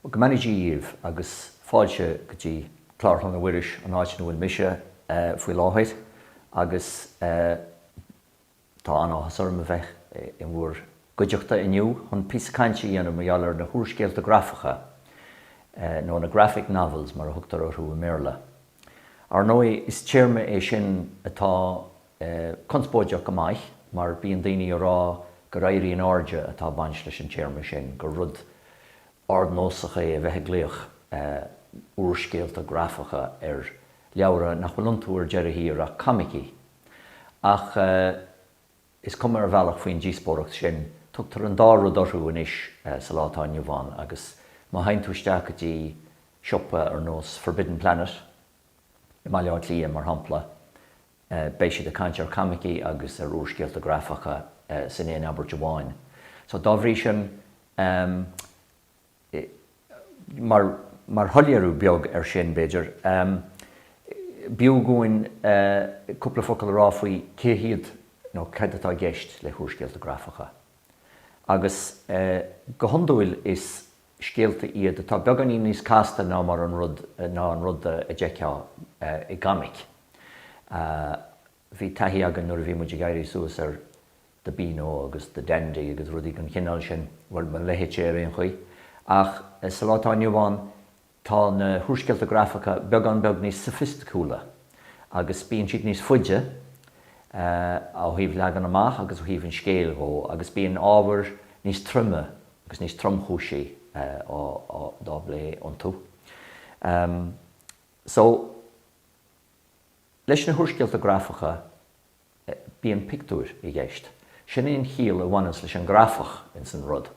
Go mbeannaí Dia dhíbh agus fáilte go dtí Clár Chlainne Mhuiris, an áit ina bhfuil mise faoi láthair agus tá an-áthas orm a bheith in bhur gcuideachta inniu chun píosa cainte a dhéanamh mar gheall ar na húrscéalta grafacha, nó na graphic novels mar a thugtar orthu i mBéarla. Ar ndóigh, is téarma é sin atá conspóideach go maith mar bíonn daoine ag rá gur éirí in airde atá ag baint leis an téarma sin, gur rud ardnósach é a bheith ag glaoch úrscéalta grafacha ar leabhra nach bhfuil iontu ar deireadh thiar ach coimicí. Ach. Is cuma ar bhealach faoin díospóireacht sin, tugtar an dá rud orthu anois sa lá atá inniu ann agus má théann tú isteach go dtí siopa ar nós Forbidden Planet i mBaile Átha Cliath, mar shampla, beidh siad ag caint ar coimicí agus ar úrscéalta grafacha san aon abairt amháin. So dá bhrí sin, Mar shoiléiriú beag ar sin, b'fhéidir, b'fhiú dhúinn cúpla focal a rá faoi cé hiad nó cad atá i gceist le húrscéalta grafacha. Agus go hiondúil is scéalta iad atá beagáinín níos casta ná mar an rud, ná an rud a d'fheicfeá i gcomic. Bhí taithí againn nuair a bhí muid ag éirí suas ar The Beano agus The Dandy agus rudaí den chineál sin, bhuel, mo leithéidse ar aon chaoi. Ach sa lá atá inniu ann, tá na húrscéalta grafacha beagán beag níos soifisticiúla agus bíonn siad níos faide, ó thaobh leagan amach agus ó thaobh an scéil dhó, agus bíonn ábhair níos troime agus níos tromchúisí á bplé iontu. So. Leis na húrscéalta grafacha bíonn pictiúir i gceist. Sin é an chiall a bhaineas leis an grafach ins an rud.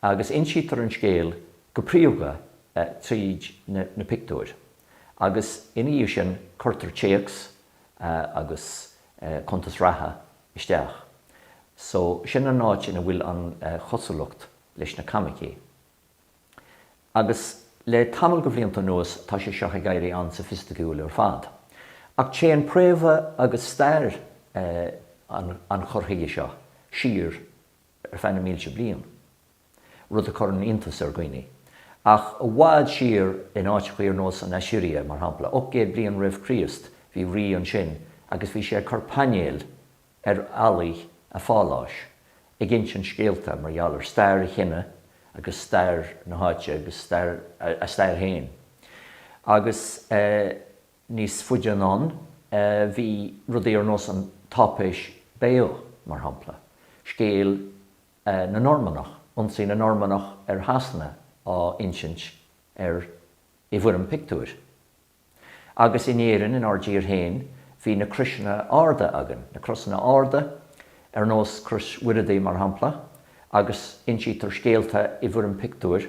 Agus insítear an scéal go príomha tríd na pictiúir. Agus ina dhiaidh sin cuirtear téacs agus cuntas reatha isteach. So sin an áit ina bhfuil an chosúlacht leis na coimicí. Agus le tamall de bhlianta anuas tá sé seo ag éirí an-soifisticiúil ar fad. Ach téann préamha agus stair an chur chuige seo siar ar feadh na mílte bliain, rud a chuireann iontas ar dhaoine. Ach i bhfad siar, in áiteachaí ar nós an Aisiria, mar shampla, 800 bliain roimh Chríost, bhí rí ansin agus bhí sé ag cur painéil, ar fhallaí a pháláis ag insint scéalta mar gheall ar stair a chine agus stair na háite agus a stair féin. Agus níos faide anonn bhí rudaí ar nós an táipéis Bayeux, mar shampla, scéal na Normannach, ionsaí na Normannach ar Shasana á insint air i bhfoirm pictiúir. Agus in Éirinn, in ár dtír féin, bhí na croiseanna arda againn, na crosanna arda, ar nós Crois Mhuireadaigh mar shampla, agus insítear scéalta i bhfoirm pictiúir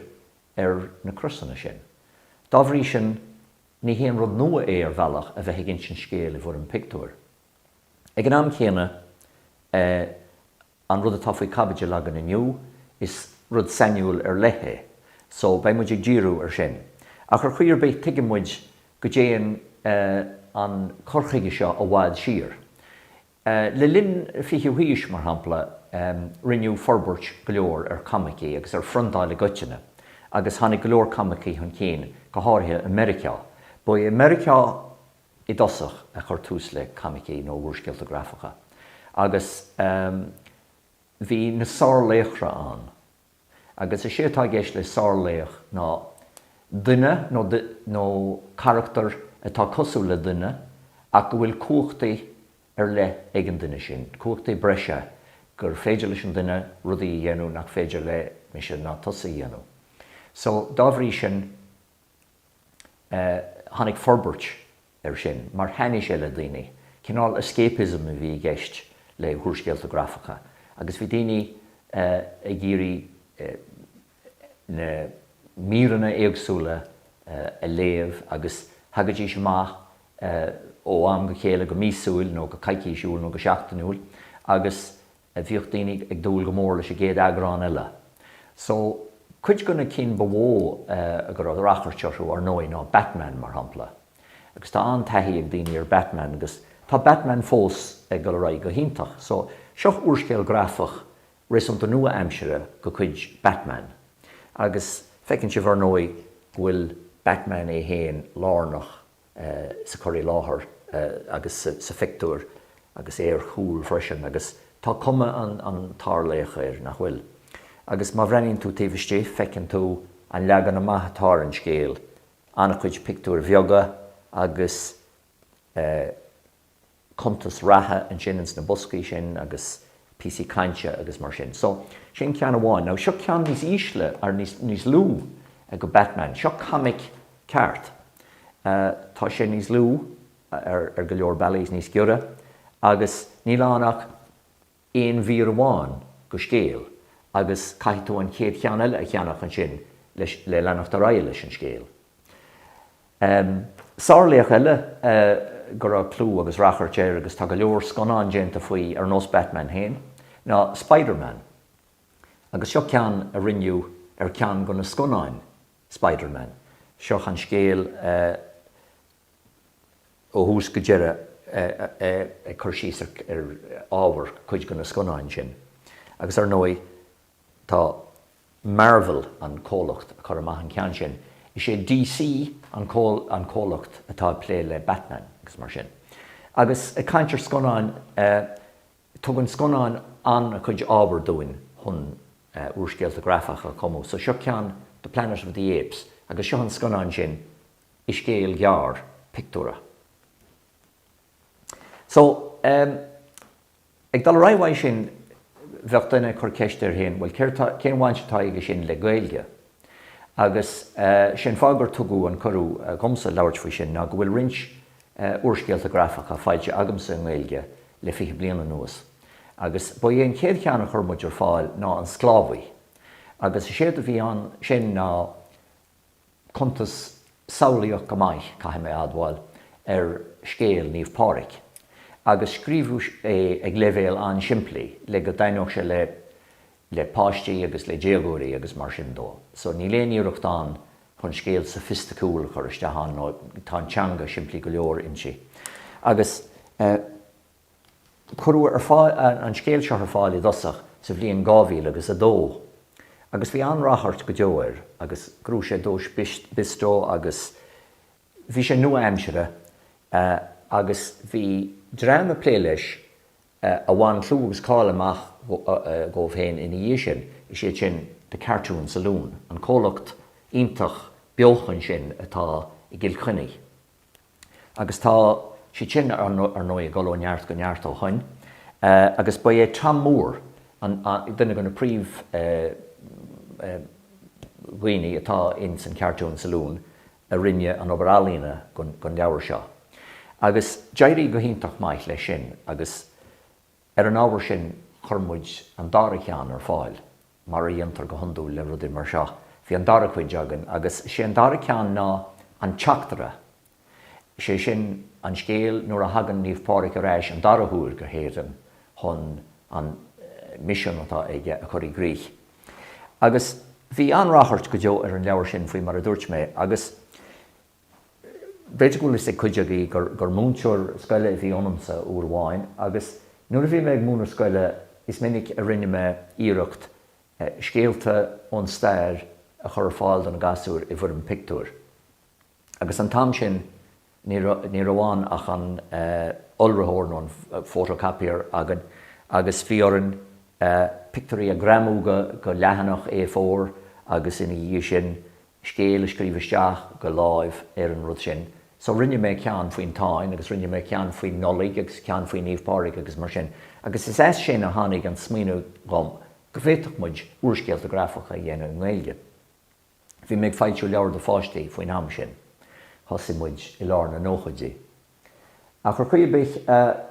ar na crosanna sin. Dá bhrí sin, ní haon rud nua é ar bhealach a bheith ag insint scéil i bhfoirm pictiúir. Ag an am céanna, eh, An rud atá faoi caibidil againn inniu, is rud sainiúil ar leith é, so beidh muid ag díriú ar sin. Ach ar chaoi ar bith tuigeann muid go dtéann an cur chuige seo i bhfad siar. Le linn an fichiú haois, mar shampla, rinneadh forbairt go leor ar coimicí agus ar phriontáil i gcoitinne, agus tháinig go leor coimicí chun cinn, go háirithe i Meiriceá. Ba é Meiriceá i dtosach a chur tús le coimicí nó úrscéalta grafacha agus bhí na sárlaochra ann agus is é atá i gceist le sárlaoch ná duine nó carachtar atá cosúil le duine ach go bhfuil cumhachtaí ar leith ag an duine sin, cumhachtaí breise gur féidir leis an duine rudaí a dhéanamh nach féidir le mise ná tusa a dhéanamh. So, dá bhrí sin, Tháinig forbairt ar sin mar thaitnigh sé le daoine. Cineál escapism a bhí i gceist le húrscéalta grafacha agus bhí daoine ag iarraidh na míreanna éagsúla a léamh agus thagaidís amach ó am go chéile go míosúil nó go coicísiúil nó go seachtainiúil agus bhíodh daoine ag dúil go mór leis an gcéad eagrán eile so. Cuid de na cinn ba mhó go raibh rachairt orthu, ar ndóigh, ná Batman, mar shampla. Agus tá an-taithí ag daoine ar Batman agus tá Batman fós ag dul ar aghaidh go hiontach. So, seo úrscéal grafach réasúnta nua-aimsire de chuid Batman agus feiceann sibh, ar ndóigh, go bhfuil Batman é féin lárnach sa chur i láthair agus sa phictiúr agus ar chúl freisin agus tá cuma an tsárlaoich air, nach bhfuil? Agus má bhreathnaíonn tú taobh istigh feiceann tú an leagan amach atá ar an scéal, an-chuid pictiúir bheaga agus eh. cuntas reatha ansin ins na boscaí sin agus píosaí cainte agus mar sin. So, sin ceann amháin. Now, seo ceann níos ísle, or níos, níos lú go Batman. Seo comic ceart. Tá sé níos lú ar go leor bealaí is níos giorra agus níl ann ach aon mhír amháin dho scéal agus caithfidh tú an chéad cheann eile a cheannach ansin leis, le leanacht ar aghaidh leis an scéal. Sár-laoch eile go raibh clú agus rachairt air, agus tá go leor scannán déanta faoi ar nós Batman fhéin, ná Spiderman. Agus seo ceann a rinneadh ar ceann dho na scannáin Spiderman. Seo an scéal ó thús go deireadh ag cur síos ar ábhar cuid de na scannáin sin agus ar ndóigh tá Marvel an comhlacht a chur amach an ceann sin. Is é DC an comhlacht atá ag plé le Batman agus mar sin. Agus ag caint ar scannáin tugann scannáin an-chuid ábhar dúinn chun úrscéalta grafacha a chumadh so seo ceann de Planet of the Apes agus seo an scannán sin. i scéal gearr pictiúra. So, em, ag dul ar aghaidh uaidh sin, bheadh duine ag cur ceist air féin, bhuel, céard tá, cén bhaint atá aige sin le Gaeilge? Agus, eh, sé an fáth gur tugadh an cuireadh dhomsa labhairt faoi sin ná go bhfuil roinnt, eh, úrscéalta grafacha foilsithe agamsa i nGaeilge le fiche bliain anuas. Agus ba é an chéad cheann a chur muid ar fáil ná An Sclábhaí. Agus is éard a bhí ann sin ná, cuntas samhlaíoch go maith, caithfidh mé a admháil, ar scéal Naomh Pádraig, agus scríobhadh é ag leibhéal an-simplí le go dtaitneodh sé le le páistí agus le déagóirí agus mar sin de. So níl aon iarracht ann chun scéal soifisticiúil a chur isteach ann nó tá an teanga simplí go leor inti. Agus. Cuireadh an scéal seo ar fáil i dtosach sa bhliain 2000 agus a dó agus bhí an-rachairt go deo air agus ghnóthaigh sé duais Bisto agus bhí sé nua-aimseartha agus bhí dream ag plé leis a bhain clú agus cáil amach dhóibh féin ina dhiaidh sin, is iad sin The Cartoon Saloon, an comhlacht iontach beochana sin atá i gCill Chainnigh. agus tá siad sin, ar ndóigh, ag dul ó neart go neart ó shoin, agus ba é Tomm Moore duine de na príomhdhaoine atá ins an Cartoon Saloon a rinne an obair ealaíne dhon leabhar seo. Agus d'éirigh go hiontach maith leis sin agus ar an ábhar sin chuir muid an dara cheann ar fáil. mar a dhéantar go hiondúil le rudaí mar seo, bhí an dara cuid againn agus sé an dara ceann ná an teachtaire, sé sin an scéal nuair a thagann Naomh Pádraig ar ais an dara huair go hÉirinn chun an misean atá aige a chur i gcrích. Agus bhí an-rachairt go deo ar an leabhar sin faoi mar a dúirt mé agus B'fhéidir go bhfuil fhios ag cuid agaibh gur múinteoir scoile a bhí ionamsa uair amháin agus nuair a bhí mé ag múineadh scoile is minic a rinne mé iarracht scéalta ón stair a chur ar fáil do na gasúir i bhfoirm pictiúir agus an t-am sin ní raibh ann ach an iolraitheoir nó an photocopier againn agus bhí orainn pictiúirí a ghreamú do leathanach A4 agus ina dhiaidh sin scéal a scríobh isteach de láimh ar an rud sin. So rinne mé ceann faoin Táin agus rinne mé ceann faoin Nollaig agus ceann faoi Naomh Pádraig agus mar sin. Agus is as sin a tháinig an smaoineamh dhom go bhféadfadh muid úrscéalta grafacha a dhéanamh i nGaeilge. Bhí mé ag foilsiú leabhar do pháistí faoin am sin. Thosaigh muid i lár na nóchaidí. Ach ar chaoi ar bith,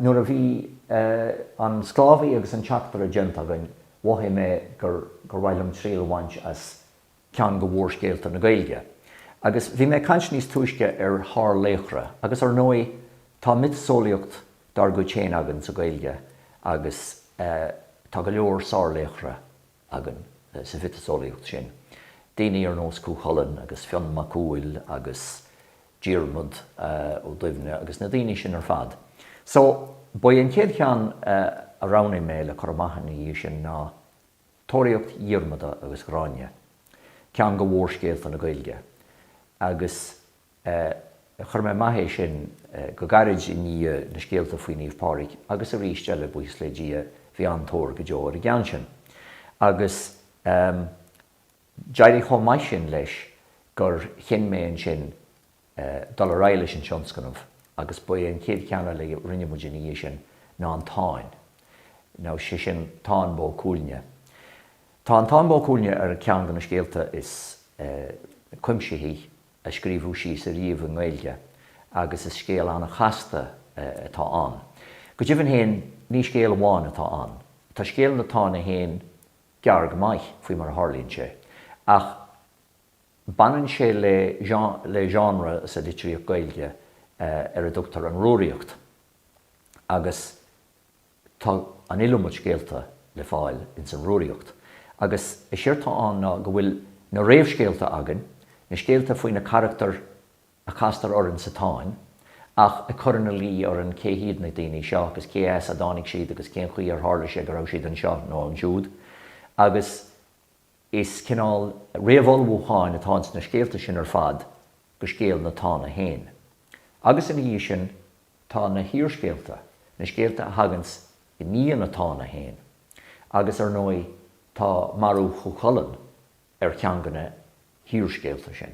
nuair a bhí An Sclábhaí agus An Teachtaire déanta againn, mhothaigh mé gur mhaith liom triail a bhaint as ceann de mhórscéalta na Gaeilge. Agus bhí mé ag caint níos túisce ar shárlaochra, agus ar ndóigh tá miotaseolaíocht dár gcuid féin againn sa Ghaeilge agus tá go leor sárlaochra againn sa mhiotaseolaíocht sin, daoine ar nós Cú Chulainn agus Fionn Mac Cumhaill agus Diarmaid Ó Duibhne agus na daoine sin ar fad. So, ba é an chéad cheann a roghnaigh mé le cur amach ina dhiaidh sin ná Tóraíocht Dhiarmada agus Ghráinne, ceann de mhórscéalta na Gaeilge, agus chuir mé amach é sin go gairid i ndiaidh na scéalta faoi Naomh Pádraig agus arís eile, buíochas le Dia, bhí an-tóir go deo ar an gceann sin. Agus d'éirigh chomh maith sin leis gur chinn mé ansin dul ar aghaidh leis an tionscnamh agus ba é an chéad cheann eile a rinne muid ina dhiaidh sin ná an Táin, nó sé sin Táin Bó Cuailgne. Tá an Táin Bó Cuailgne ar cheann de na scéalta is cuimsithí a scríobhadh síos ariamh i nGaeilge agus is scéal an-chasta atá ann. Go deimhin féin, ní scéal amháin atá ann. Tá scéal na Táine féin gearr go maith, faoi mar a tharlaíonn sé, ach. Baineann sé le genre sa litríocht Gaeilge ar a dtugtar an Rúraíocht agus tá an iliomad scéalta le fáil ins an Rúraíocht. Agus is é atá ann ná go bhfuil na réamhscéalta againn, na scéalta faoi na carachtair a chastar orainn sa Táin ach ag cur ina luí orainn cé hiad na daoine seo agus cé as a dtáinig siad agus cén chaoi ar tharla sé go raibh siad anseo nó ansiúd agus Is cineál réamhullmhúcháin atá ins na scéalta sin ar fad go scéal na Tána féin. Agus ina dhiaidh sin tá na hiarscéalta, na scéalta a thaganns i ndiaidh na Tána féin. Agus ar ndóigh tá marú Chú Chulainn ar cheann de na hiarscéalta sin.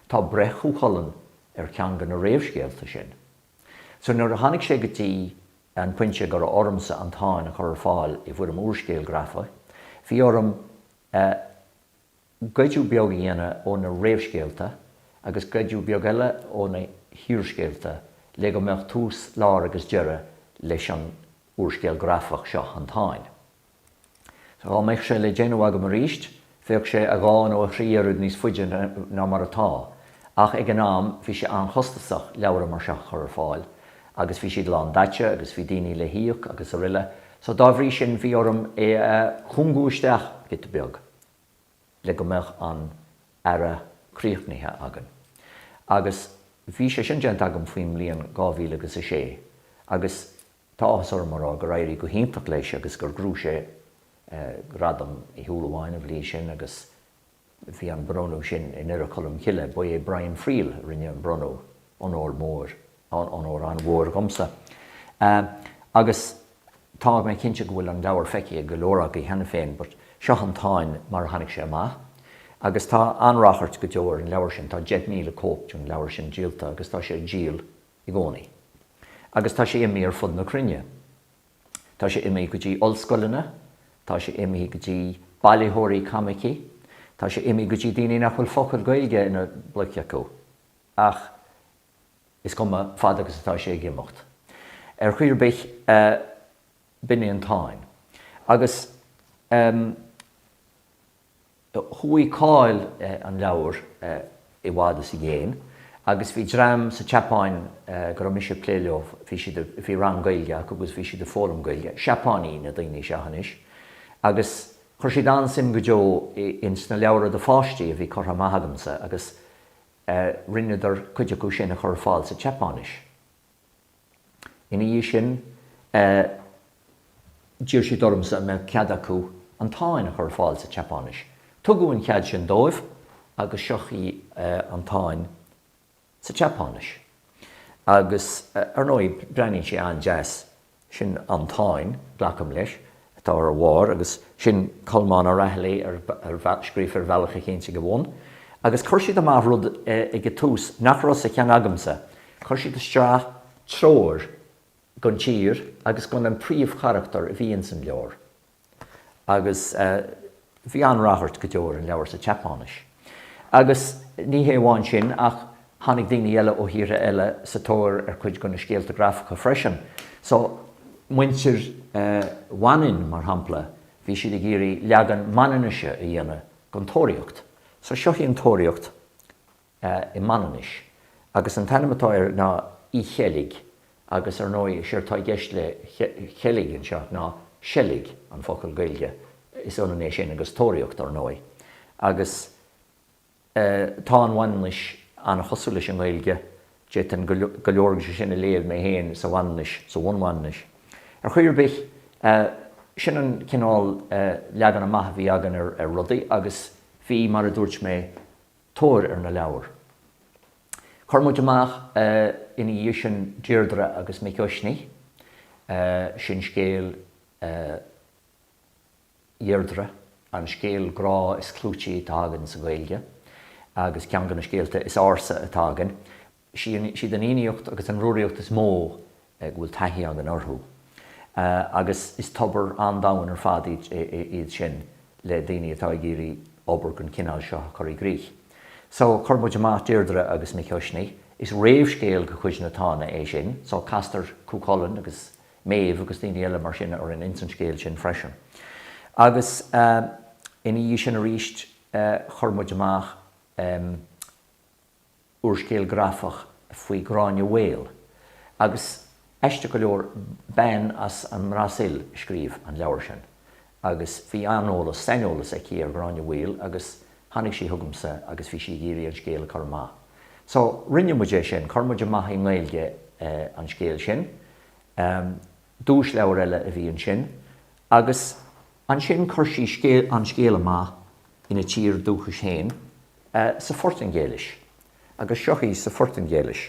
Tá breith Chú Chulainn ar cheann de na réamhscéalta sin. So nuair a tháinig sé go dtí an pointe go raibh ormsa an Táin a chur ar fáil i bhfoirm úrscéil grafaigh, bhí orm goideadh beag a dhéanamh ó na réamhscéalta agus goideadh beag eile ó na hiarscéalta le go mbeadh tús, lár agus deireadh leis an úrscéal grafach seo, an Táin. Dhá mbeadh sé le déanamh agam arís, bheadh sé a dhá nó a thrí oiread níos faide ná mar atá, ach ag an am bhí sé an-chostasach leabhra mar seo a chur ar fáil, agus bhí siad lán daite agus bhí daoine le híoc agus aroile, so dá bhrí sin bhí orm é a chúngú isteach giota beag le go mbeadh an earra críochnaithe againn. Agus bhí sé sin déanta agam faoin mbliain dhá mhíle agus a sé, agus Tá áthas orm a rá gur éirigh go hiontach leis agus gur ghnóthaigh sé Gradam Uí Shúilleabháin an bhliain sin agus bhí an bronnadh sin i nDoire Cholm Cille. Ba é Brian Friel a rinne an bronnadh, onóir mhór, onóir an-mhór dhomsa. Agus tá mé cinnte go bhfuil an leabhar feicthe ag go leor agaibh cheana féin, but seo an Táin mar a tháinig sé amach. Agus tá an-rachairt go deo ar an leabhar sin, tá 10,000 cóip den leabhar sin díolta agus tá sé ag díol i gcónaí. Agus tá sé imí ar fud na cruinne. Tá sé imí go dtí ollscoileanna, tá sé imí go dtí bailitheoirí coimicí, tá sé imí go dtí daoine nach bhfuil focal Gaeilge ina bpluic acu. Ach is cuma, fad agus atá sé ag imeacht. Ar chaoi ar bith, b'in é an Táin. Agus, em. Chuaigh cáil an leabhair i bhfad is i gcéin agus bhí dream sa tSeapáin go raibh mise ag plé leo, bhí siad, bhí rang Gaeilge acu agus bhí siad ag foghlaim Gaeilge, Seapáiní na daoine seo anois, agus chuir siad an-suim go deo in sna leabhra do pháistí a bhí curtha amach agamsa agus rinneadar cuid acu sin a chur ar fáil sa tSeapáinis. Ina dhiaidh sin, d'iarr siad ormsa an mbeadh cead acu an Táin a chur ar fáil sa tSeapáinis. Tugadh an cead sin dóibh agus seo í an Táin sa tSeapáinis. Agus, ar ndóigh, breathnaíonn sí an-deas. Sin an Táin, glacaim leis. atá ar a bharr, agus sin Colmán Ó Raghallaigh scríofa ar bhealach éicint ag a bhun. Agus chuir siad amach rud ag an tús nach raibh sa cheann agamsa, chuir siad isteach treoir gon tír agus gon príomhcharachtar a bhí ins an leabhar. Agus. Bhí an-ráchairt go deo ar an leabhar sa tSeapáinis. Agus ní hé amháin sin ach tháinig daoine eile ó thíortha eile sa tóir ar chuid de na scéalta grafacha freisin. So, muintir Mhanainn, mar shampla, bhí siad ag iarraidh leagan Manainnise a dhéanamh den Tóraíocht. So, seo í an Tóraíocht. i Manainnis, agus an t-ainm atá air ná Y Çhelg, agus ar ndóigh, is éard atá i gceist le Çhelg anseo ná seilg, an focal Gaeilge, is ionann é sin agus tóraíocht, ar ndóigh. Agus tá an Mhanainnis an-chosúil leis an nGaeilge, d'fhéadfainn go leor de sin a léamh mé féin sa Mhanainnis, sa bhunMhanainnis. Ar chaoi ar bith, sin an cineál leagan amach a bhí againn ar rudaí, agus bhí, mar a dúirt mé, tóir ar na leabhair. Chuir muid amach ina dhiaidh sin Deirdre agus Mic Uisnigh, sin scéal Dheirdre, an scéal grá is clúití atá againn sa Ghaeilge agus ceann de na scéalta is ársa atá againn. Is iad an Fhiannaíocht agus an Rúraíocht is mó go bhfuil taithí againn orthu agus is tobar an-domhain ar fad iad sin le daoine atá ag iarraidh obair den chineál seo a chur i gcrích. So, chuir muid amach Deirdre agus Mic Uisnigh. Is réamhscéal de chuid na Tána é sin so castar Cú Chulainn agus Méabh agus daoine eile mar sin orainn ins an scéal sin freisin. Agus ina dhiaidh sin arís chuir muid amach. úrscéal grafach faoi Gráinne Mhaol, agus aisteach go leor, bean as an mBrasaíl a scríobh an leabhar sin, agus bhí an-eolas, saineolas aici ar Ghráinne Mhaol, agus tháinig sí chugamsa agus bhí sí ag iarraidh an scéal a chur amach. So, rinne muid é sin, chuir muid amach i nGaeilge an scéal sin. Duaisleabhar eile a bhí ansin, agus ansin chuir sí an scéal amach ina tír dúchais féin, sa Phortaingéilis agus seo í sa Phortaingéilis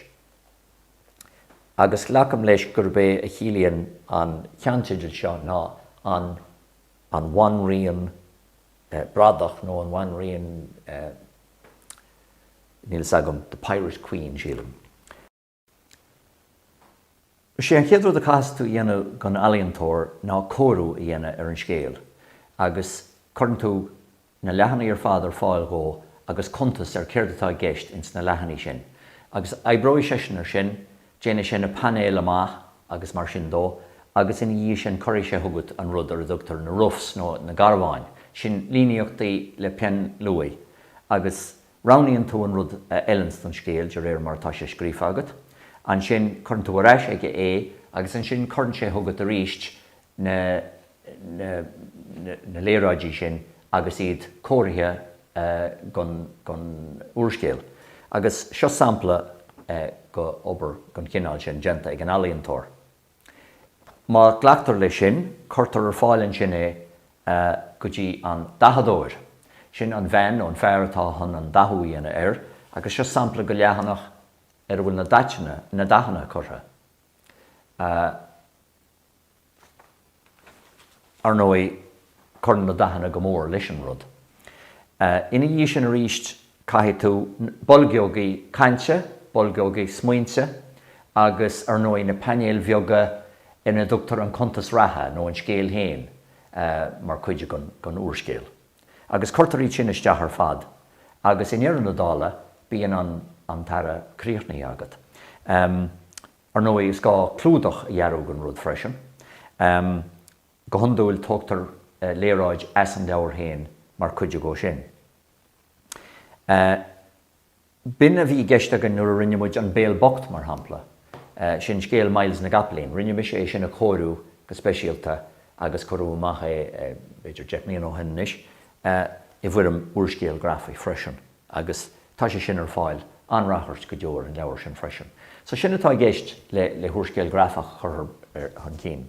agus glacaim leis gurb é a chiallaíonn an ceannteideal seo ná an bhanríon bradach nó an bhanríon níl a fhios agam the pirate queen sílim. Is é an chéad rud a chaithfeas tú a dhéanamh don ealaíontóir ná cóiriú a dhéanamh ar an scéal agus cuireann tú na leathanaigh ar fad ar fáil dhó agus cuntas ar céard atá i gceist ins na leathanaigh sin agus oibreoidh seisean ar sin, déanfaidh sé na painéil amach agus mar sin de agus ina dhiaidh sin cuirfidh sé chugat an rud ar a dtugtar na roughs nó na garbháin, sin líníochtaí le peann luaidhe agus. Roghnaíonn tú an rud a fheileanns don scéal de réir mar atá sé scríofa agat. Ansin cuireann tú ar ais aige é agus ansin cuireann sé chugat arís na na na léaráidí sin agus iad cóirithe don don úrscéal. Agus seo sampla den obair den chineál sin déanta ag an ealaíontóir. Má glactar leis sin, cuirtear ar fáil ansin é go dtí an dathadóir. Sin an bhean nó an fear atá chun an dathú a dhéanamh air agus seo sampla de leathanach ar a bhfuil na dathanna, na dathanna curtha. Ar ndóigh, Cuireann na dathanna go mór leis an rud. Ina dhiaidh sin arís caithfidh tú boilgeogaí cainte, boilgeogaí smaointe agus ar ndóigh na painéil bheaga ina dtugtar an cuntas reatha nó an scéal féin mar chuid den úrscéal. Agus cuirtear iad sin isteach ar fad agus i ndeireadh na dála bíonn an t-earra críochnaithe agat. Ar ndóigh is gá clúdach a dhearadh don rud freisin. Go hiondúil tógtar léaráid as an leabhar féin mar chuid dhe sin. B'in a bhí i gceist againn nuair a rinne muid An Béal Bocht, mar shampla, sin scéal Myles na gCopaleen. Rinne mise é sin a chóiriú go speisialta agus cuireadh amach é, b'fhéidir deich mbliana ó shin anois, i bhfoirm úrscéil ghrafaigh freisin agus tá sé sin ar fáil, an-ráchairt go deo ar an leabhar sin freisin. So sin atá i gceist le húrscéal grafach a chur chun cinn.